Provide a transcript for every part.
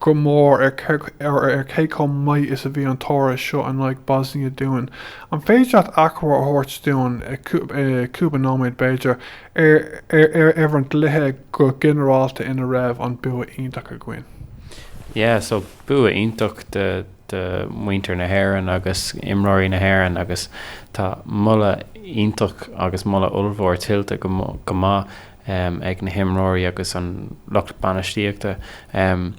go mór ar cé chomh maith is a bhí an toradh seo in aghaidh Bosnia dúinn. An féidir leat achoimre a thabhairt dúinn, cúpla nóiméad b'fhéidir, ar an gcluiche go ginearálta ina raibh an bua iontach againn? Yeah so bua iontach do mhuintir na hÉireann agus imreoirí na hÉireann agus tá moladh iontach agus moladh ollmhór tuillte go maith um ag na himreoirí agus an lucht bainistíochta. um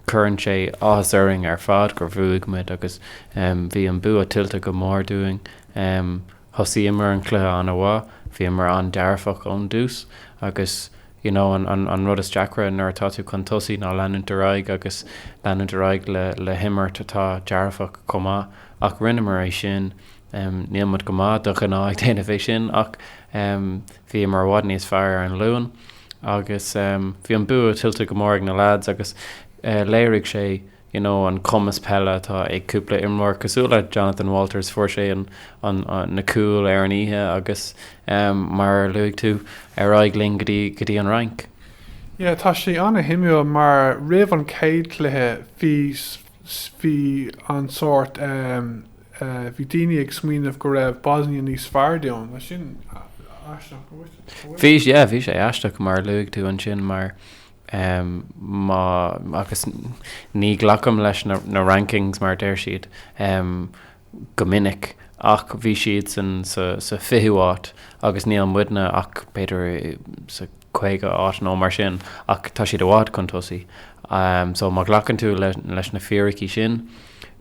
Cuireann sé áthas orainn ar fad gur bhuaigh muid agus um bhí an bua tuillte go mór dúinn. um Thosaíomar an cluiche an-mhaith, bhíomar an-dearfach ón dtús agus you know an an an rud is deacra nuair atá tú chun tosaigh ná leanúint ar aghaidh agus leanúint ar aghaidh le le himirt atá dearfach chomh maith ach rinneamar é sin. um Níl muid go maith de ghnáth ag déanamh é sin ach um Bhíomar i bhfad níos fearr ar an Luan agus bhí an bua tuillte go mór ag na leaids agus léirigh sé you know an cumas peile atá ag cúpla imreoir cosúil le Jonathan Walters fuair sé an an na cúil ar an oíche agus mar a luaigh tú ar aghaidh linn go dtí go dtí an Fhrainc. Yeah tá sé ana shuimiúil mar roimh an chéad cluiche bhí bhí an sórt, bhí daoine ag smaoineamh go raibh Bosnia níos fearr dúinn, tá sin aisteach go bhfuil. Bhí, yeah, bhí sé aisteach mar a luaigh tú ansin mar má, agus ní ghlacaim leis na rankings mar a deir siad, go minic ach bhí siadsan sa 20ú áit agus níl muidne ach b'fhéidir sa 50 áit nó mar sin ach tá siad i bhfad chun tosaigh so má ghlacann tú leis na fíricí sin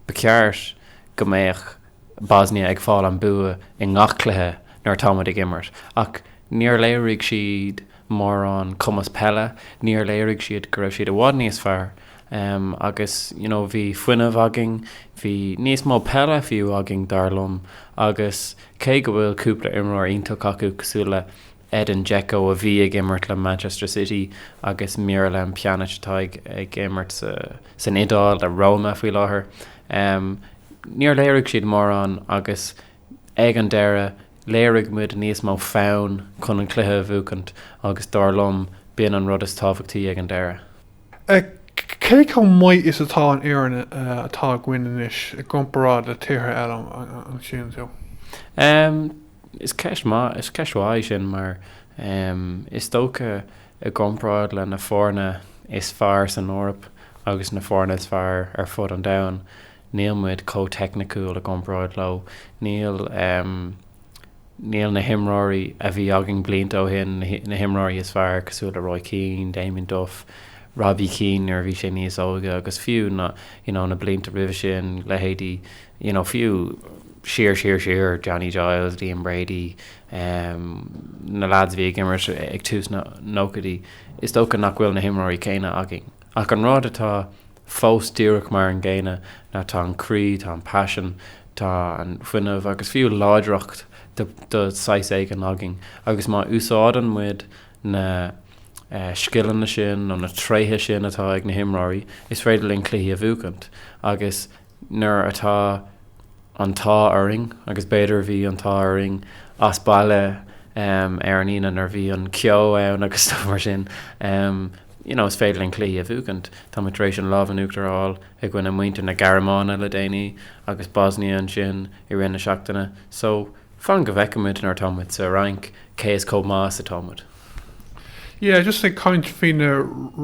ba cheart go mbeadh Bosnia ag fáil an bua i ngach cluiche nuair atá muid ag imirt ach níor léirigh siad mórán cumas peile, níor léirigh siad go raibh siad i bhfad níos fearr Um, agus, you know, bhí fuinneamh againn, bhí níos mó peile fiú againn, dar liom, agus cé go bhfuil cúpla imreoir iontach acu cosúil le Edin Dzeko a bhí ag imirt le Manchester City agus Miralem Pjanic atá ag, ag imirt sa, san Iodáil le Roma faoi láthair, um, níor léirigh siad mórán agus ag an deireadh léirigh muid níos mó fonn chun an cluiche a bhuacaint agus dar liom b'in an rud is tábhachtaí ag an deireadh. Cé chomh maith is atá an fhoireann atá againn anois i gcomparáid le tíortha eile an síleann tú? Is ceist maith, is ceist mhaith í sin mar is dócha i gcomparáid le na foirne is fearr san Eoraip agus na foirne is fearr ar fud an domhain níl muid chomh teicniciúil i gcomparáid leo. Níl. Níl na himreoirí a bhí againn blianta ó shin, na himreoirí is fearr, cosúil le Roy Keane, Damien Duff, Robbie Keane nuair a bhí sé níos óige agus fiú na you know na blianta roimhe sin, leithéidí you know fiú siar, siar, siar, Johnny Giles, Liam Brady, em na lads a bhí ag imirt ag tús na nóchaidí, is dócha nach bhfuil na himreoirí céanna againn. Ach an rud atá. fós díreach mar an gcéanna ná tá an croí, tá an paisean, tá an fuinneamh agus fiú láidreacht de shaghas éigin againn agus má úsáideann muid na scileanna sin nó na tréithe sin atá ag na himreoirí is féidir linn cluichí a bhuachaint agus nuair atá an t-ádh orainn agus b'fhéidir bhí an t-ádh orainn as baile ar an Aoine nuair bhí an ceo ann agus stuff mar sin you know is féidir linn cluichí a bhuachaint. Tá muid tar éis an lámh in uachtar a fháil i gcoinne muintir na Gearmáine le déanaí agus Bosnia ansin i rith na seachtaine so Fan go bhfeicimid nuair atá muid sa Fhrainc cé is chomh maith is atá muid. Yeah just ag caint faoi na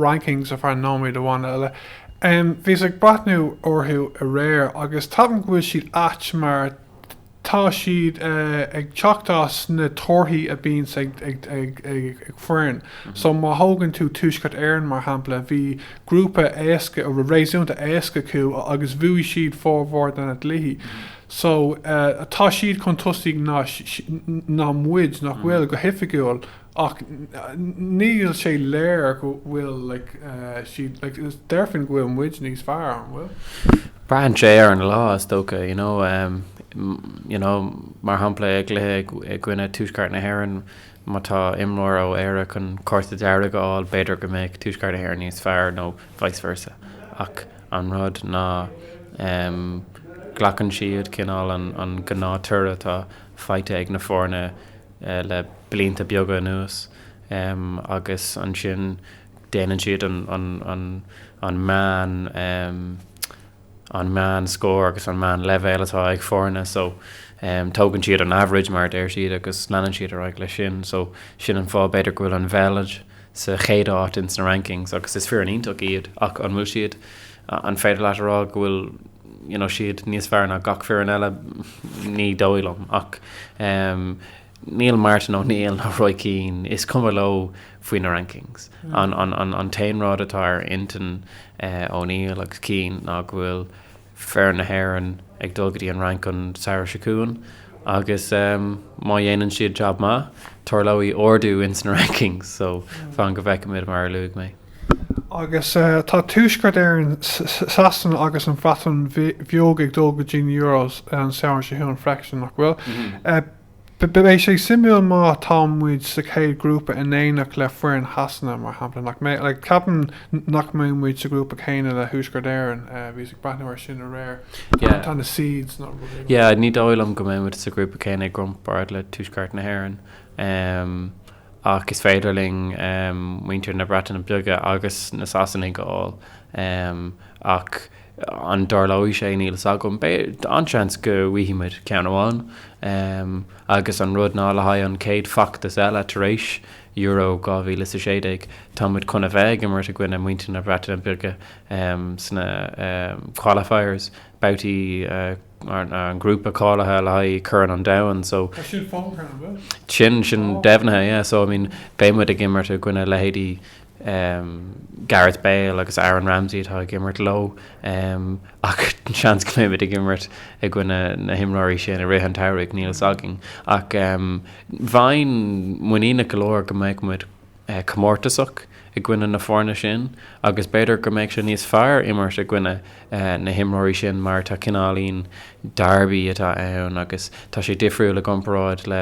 rankings ar feadh nóiméad amháin eile. Em bhíos ag breathnú orthu aréir agus ceapaim go bhfuil siad ait mar tá siad eh ag teacht as na torthaí a bíonns ag ag ag ag ag foireann so má thógann tú Tuaisceart Éireann mar shampla bhí grúpa éasca réasúnta éasca acu agus bhuaigh siad formhór de na cluichí so tá siad chun tosaigh ná muid, nach bhfuil, go hoifigiúil ach níl sé soiléir go bhfuil siad, déarfainn go bhfuil muid níos fearr, an bhfuil? Braitheann sé ar an lá is dócha you know, you know mar shampla i gcluiche i gcoinne Tuaisceart na hÉireann má tá imreoir ó Éire chun cárta dearg a fháil b'fhéidir go mbeadh Tuaisceart na hÉireann níos fearr nó vice versa. Ach an rud ná glacann siad cineál an gnáth toradh atá faighte ag na foirne le blianta beaga anuas agus ansin déanann siad an meán an meán scór agus an meán leibhéal atá ag foirne so tógann siad an average mar a deir siad agus leanann siad ar aghaidh leis sin so sin an fáth b'fhéidir go bhfuil an Bheilg sa chéad áit ins na rankings agus is foireann iontach iad ach an bhfuil siad, an féidir leat a rá go bhfuil you know siad níos fearr ná gach foireann eile? Ní dóigh liom ach em níl Martin O'Neill ná Roy Keane, is cuma leo faoi na rankings. An, an, an, an t-aon rud atá ar intinn eh O'Neill agus Keane ná go bhfuil, foireann na hÉireann ag dul go dtí an Fhrainc an samhradh seo chugainn agus má dhéanann siad jab maith, tarlóidh ardú ins na rankings so fan go bhfeicimid, mar a luaigh mé. Agus tá Tuaisceart Éireann, Sasana agus an Bhreatain Bheag ag dul go dtí na Euros an samhradh seo chugainn freisin, nach bhfuil? Beidh sé suimiúil má tá muid sa chéad ghrúpa in éineacht le foireann Shasana, mar shampla, nach mbeidh? Ceapaim nach mbeidh muid sa ghrúpa céanna le Tuaisceart Éireann, bhíos ag breathnú air sin aréir, tá na seeds nó rud éigin Yeah, ní dóigh liom go mbeidh muid sa ghrúpa céanna i gcomparáid le Tuaisceart na hÉireann ach is féidir linn muintir na Breataine Bige agus na Sasanaigh a fháil ach An dtarlóidh sé? Níl 'fhios agam. Beidh an-seans go bhfaighidh muid ceann amháin. Agus an rud ná le haghaidh an chéad feachtas eile tar éis Euro 2016 tá muid chun a bheith ag imirt i gcoinne muintir na Breataine Bige sna qualifiers, babhtaí an ghrúpa cáilithe le haghaidh Chorn an Domhain. So Tá sin fógartha, an bhfuil? sin sin deimhnithe, yeah. So I mean beidh muid ag imirt i gcoinne leithéidí Gareth Bale agus Aaron Ramsey atá ag imirt leo ach seans go mbeidh muid ag imirt i gcoinne na himreoirí sin i rith an tsamhraidh, níl fhios againn ach bheinn muiníneach go leor go mbeadh muid comórtasach i gcoinne na foirne sin agus b'fhéidir go mbeadh sé níos fearr imirt i gcoinne na himreoirí sin mar tá cineáilín derby atá ann agus tá sé difriúil i gcomparáid le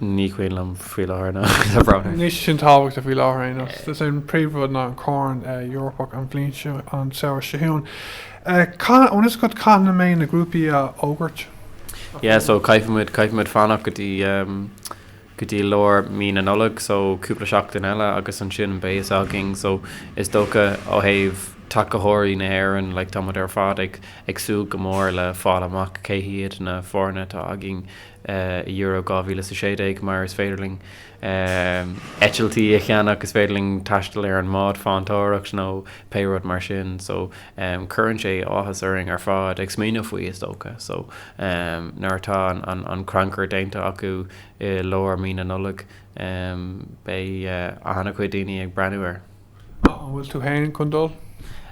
Ní cuimhin liom faoi láthair ná le bronnadh. Níl sé sin tábhachtach faoi láthair aon nós. Is é an príomhrud ná an Corn Eorpach an bhliain seo, an samhradh seo chugainn. Caithfidh, an bhfuil fhios againn cathain a mbeidh na grúpaí á fhógairt. Yeah, so caithfidh muid, caithfidh muid fanacht go dtí, go dtí lár mí na Nollag, so cúpla seachtain eile agus ansin beidh fhios againn. So is dócha ó thaobh tacaitheoirí na hÉireann, like tá muid ar fad ag, ag súil go mór le fáil amach cé hiad na foirne atá againn. Euro 2016 mar is féidir linn eitiltí a cheannach, is féidir linn taisteal ar an mbád farantóireachta nó pé rud mar sin so cuireann sé áthas orainn ar fad ag smaoineamh faoi is dócha so nuair atá an crannchur déanta acu i lár mí na Nollag beidh an-chuid daoine ag breathnú air. An bhfuil tú féin chun dul?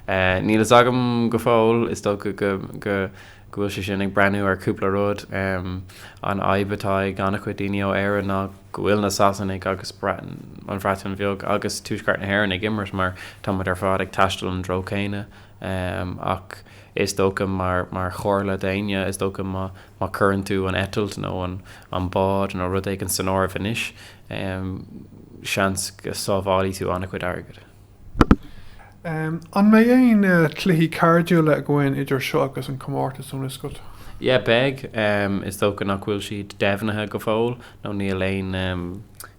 Níl fhios agam go fóill. Is dócha go bhfuil sé sin ag brath ar cúpla rud. An fhadhb atá ag an-chuid daoine ó Éirinn ná go bhfuil na Sasanaigh agus an Bhreatain Bheag agus Tuaisceart na hÉireann ag imirt mar tá muid ar fad ag taisteal an treo céanna. Ach is dócha mar chomhairle d'éinne, is dócha má cuireann tú an eitilt nó an bád nó rud éigin in áirithe anois, Um seans go sábhálfaidh tú an-chuid airgid. Um an mbeidh aon cluichí cairdiúla againn idir seo agus an comórtas an bhfuil fhios agat? Yeah beidh. Um is dócha nach bhfuil siad deimhnithe go fóill nó níl aon um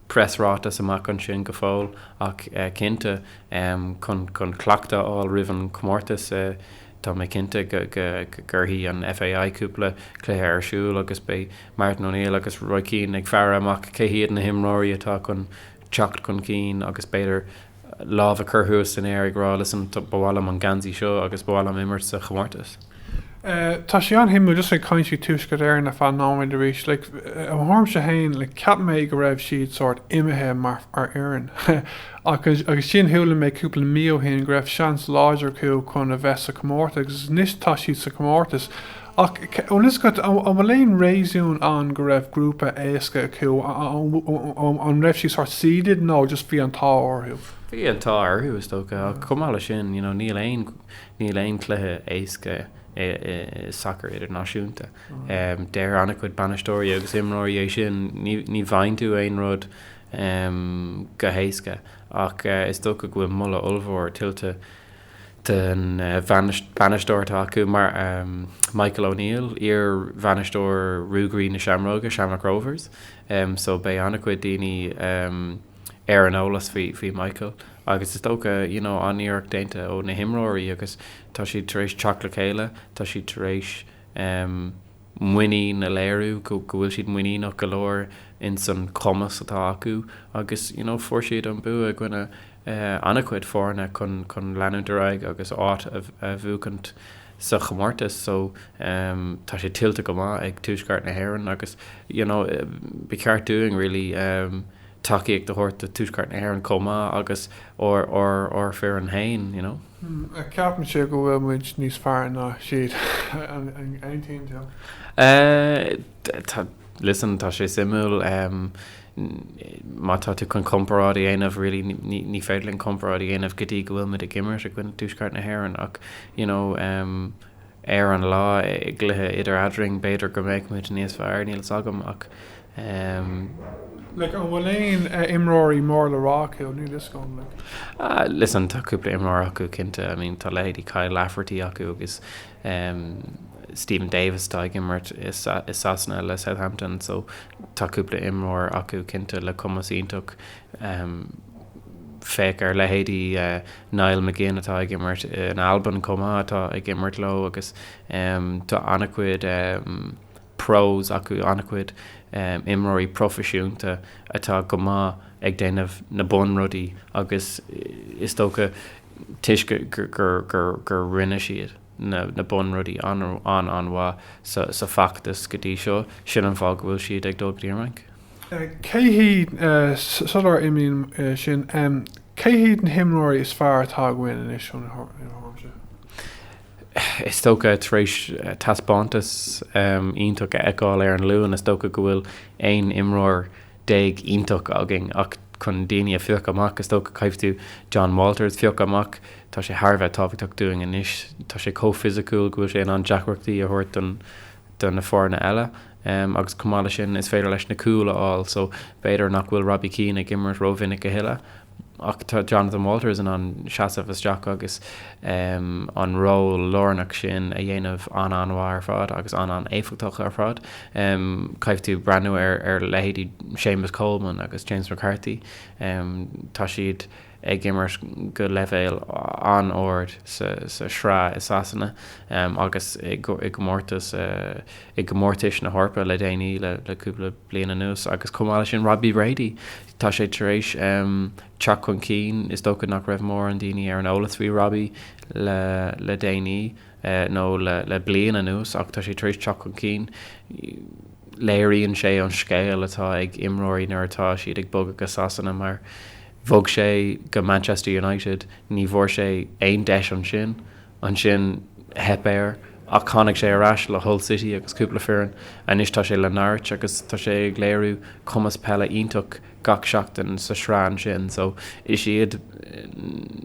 preasráiteas amach ansin go fóill ach eh cinnte um chun chun cleachtadh a fháil roimh an chomórtas eh tá mé cinnte go go gcuirfidh an FAI cúpla cluiche ar siúl agus beidh Martin O'Neill agus Roy Keane ag faire amach cé hiad na himreoirí atá chun teacht chun cinn agus b'fhéidir lámh a chur thuas san aer ag rá, listen, ba mhaith liom an geansaí seo agus ba mhaith liom imirt sa chomórtas. Tá sé an-shuimiúil, just like ag caint faoi Tuaisceart Éireann ar feadh nóiméid arís, like domsa féin, like cheap mé go raibh siad sórt imithe mar fhoireann ach ansin chuala mé cúpla mí ó shin go raibh seans láidir acu chun a bheith sa chomórtas agus anois tá siad sa chomórtas. Ach an fhios agat an bhfuil aon réasún ann go raibh grúpa éasca acu, an raibh siad sort seeded nó just bhí an t-ádh orthu? Bhí an t-ádh orthu is dócha ach chomh maith leis sin you know níl aon, níl aon cluiche éasca i sacar idirnáisiúnta. Deir an-chuid bainisteoirí agus imreoirí é sin, ní, ní bhfaigheann tú aon rud go héasca ach is dócha go bhfuil moladh ollmhór tuillte, den bhainisteoir atá acu, Michael O'Neill, iar-bhainisteoir Ruagairí na Seamróige, Shamrock Rovers, so beidh an-chuid daoine ar an eolas faoi Michael agus is dócha you know an-iarracht déanta ó na himreoirí agus tá siad tar éis teacht le chéile, tá siad tar éis. muinín a léiriú go bhfuil siad muiníneach go leor ins an cumas atá acu agus you know fuair siad an bua i gcoinne an-chuid foirne chun chun leanúint ar aghaidh agus áit a bhuachaint sa chomórtas so tá sé tuillte go maith ag Tuaisceart na hÉireann agus you know ba cheart dúinn really tacaíocht a thabhairt do Tuaisceart na hÉireann chomh maith agus ár ár ár foireann féin you know. Ceapann sé go bhfuil muid níos fearr ná siad? An aontaíonn tú? Listen tá sé suimiúil. Má tá tú chun comparáid a dhéanamh really ní féidir linn comparáid a dhéanamh go dtí go bhfuil muid ag imirt i gcoinne Tuaisceart na hÉireann ach you know ar an lá i gcluiche idir eadrainn, b'fhéidir go mbeadh muid níos fearr, níl 's agam ach. Like, an bhfuil aon imreoirí mór le rá acu, níl 'fhios agam, like. Ah, listen, tá cúpla imreoir acu cinnte, I mean, tá leithéidí Kyle Lafferty acu agus Steven Davis atá ag imirt i Sasana le Southampton, so tá cúpla imreoir acu cinnte le cumas iontach. Féach ar leithéidí. Niall McGinn atá ag imirt in Albain chomh maith atá ag imirt leo agus tá an-chuid pros acu, an-chuid imreoirí proifisiúnta atá go maith ag déanamh na bunrudaí agus is dócha toisc gur rinne siad. na bunrudaí an-an-mhaith sa feachtas go dtí seo, sin an fáth go bhfuil siad ag dul go dtí an Fhrainc. Cé hiad, sular imíonn sin, cé hiad na himreoirí is fearr atá againn anois i do thuairimse? Is dócha, tar éis taispeántas iontach a fheiceáil ar an Luan, is dócha go bhfuil aon imreoir déag iontach againn ach chun daoine a phiocadh amach, is dócha, caithfidh tú Jon Walters a phiocadh amach. Tá sé thar a bheith tábhachtach dúinn anois. Tá sé chomh fisiciúil go bhfuil sé in ann deacrachtaí a thabhairt do na foirne eile agus chomh maith leis sin is féidir leis na cúil a fháil so b'fhéidir nach bhfuil Robbie Keane ag imirt rómhinic a thuilleadh. Ach tá Jonathan Walters in ann seasamh isteach agus an ról lárnach sin a dhéanamh an-an-mhaith ar fad agus an-an-éifeachtach ar fad. Caithfidh tú breathnú ar leithéidí Séamus Coleman agus James McCarthy. Tá siad ag imirt go leibhéal an-ard sa Sraith i Sasana agus i gcomórtais na hEorpa le déanaí, le cúpla bliain anuas, agus chomh maith leis sin Robbie Brady. Tá sé tar éis teacht chun cinn. Is dócha nach raibh mórán daoine ar an eolas faoi Robbie le déanaí nó le bliain anuas ach tá sé tar éis teacht chun cinn. Léiríonn sé an scéal atá ag imreoirí nuair atá siad ag bogadh go Sasana mar bhog sé go Manchester United, ní bhfuair sé aon deis ansin. Ansin theip air ach tháinig sé ar ais le Hull City agus cúpla foireann. Anois tá sé le Norwich agus tá sé ag léiriú cumas peile iontach gach seachtain sa sraith ansin. So is iad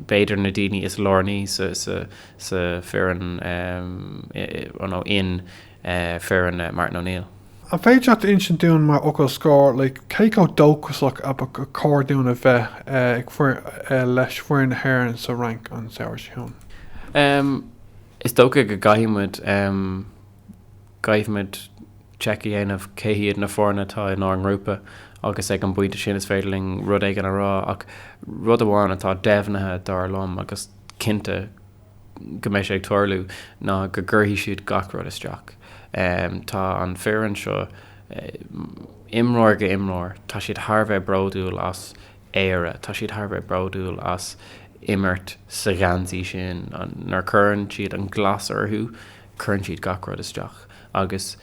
b'fhéidir na daoine is lárnaí sa foireann in. foireann Martin O'Neill. An féidir leat a insint dúinn mar fhocal scór cé chomh dóchasach a ba chóir dúinn a bheith leis foireann na hÉireann sa Fhrainc an samhradh seo chugainn? Is dócha go gcaithfidh muid gcaithfidh muid check a dhéanamh cé hiad na foirne atá inár ngrúpa agus ag an bpointe sin is féidir linn rud éigin a rá ach rud amháin atá deimhnithe dar liom agus cinnte go mbeidh sé ag tarlú ná go gcuirfidh siad gach rud isteach. Tá an foireann seo, imreoir go imreoir, tá siad thar a bheith bródúil as Éire, tá siad thar a bheith bródúil as imirt sa gheansaí sin. Nuair a chuireann siad an glas orthu, cuireann siad gach rud isteach agus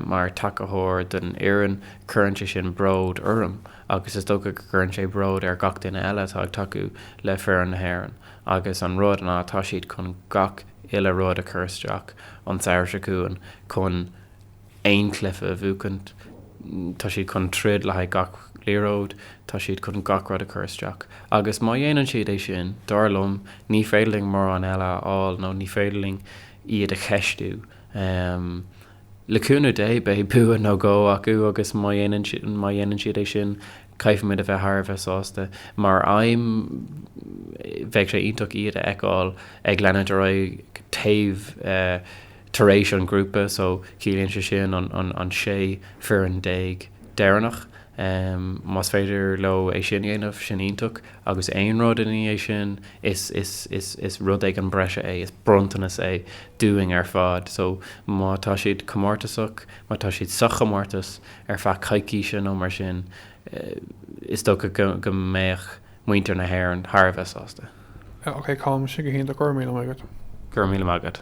mar tacathóir don fhoireann, cuireann sé sin bród orm agus is dócha go gcuireann sé bród ar gach duine eile atá ag tacú le foireann na hÉireann. agus an rud ná tá siad chun gach uile rud a chur isteach an samhradh seo chugainn chun aon chluiche a bhuachaint. Tá siad chun troid le haghaidh gach liathróid, tá siad chun gach rud a chur isteach agus má dhéanann siad é sin, dar liom, ní féidir linn mórán eile a fháil nó ní féidir linn iad a cheistiú. Le cúnamh Dé beidh bua nó dhó acu agus má dhéanann siad é sin, Caithfimid a bheith thar a bheith sásta mar aidhm. Bheadh sé iontach iad a fheiceáil ag leanacht ar aghaidh taobh tar éis an ghrúpa so ciallaíonn sé sin an 16 foireann deireanach. Más féidir leo é sin a dhéanamh, sin iontach agus aon rud ina dhiaidh sin, is rud éigin breise é, is bronntanas é dúinn ar fad. So má tá siad comórtasach. Má tá siad sa chomórtas ar feadh coicíse nó mar sin, is dócha go mbeadh muintir na hÉireann thar a bheith sásta. Ah, ok, Colm, sin go hiontach, go raibh míle maith agat! Go raibh míle maith agat!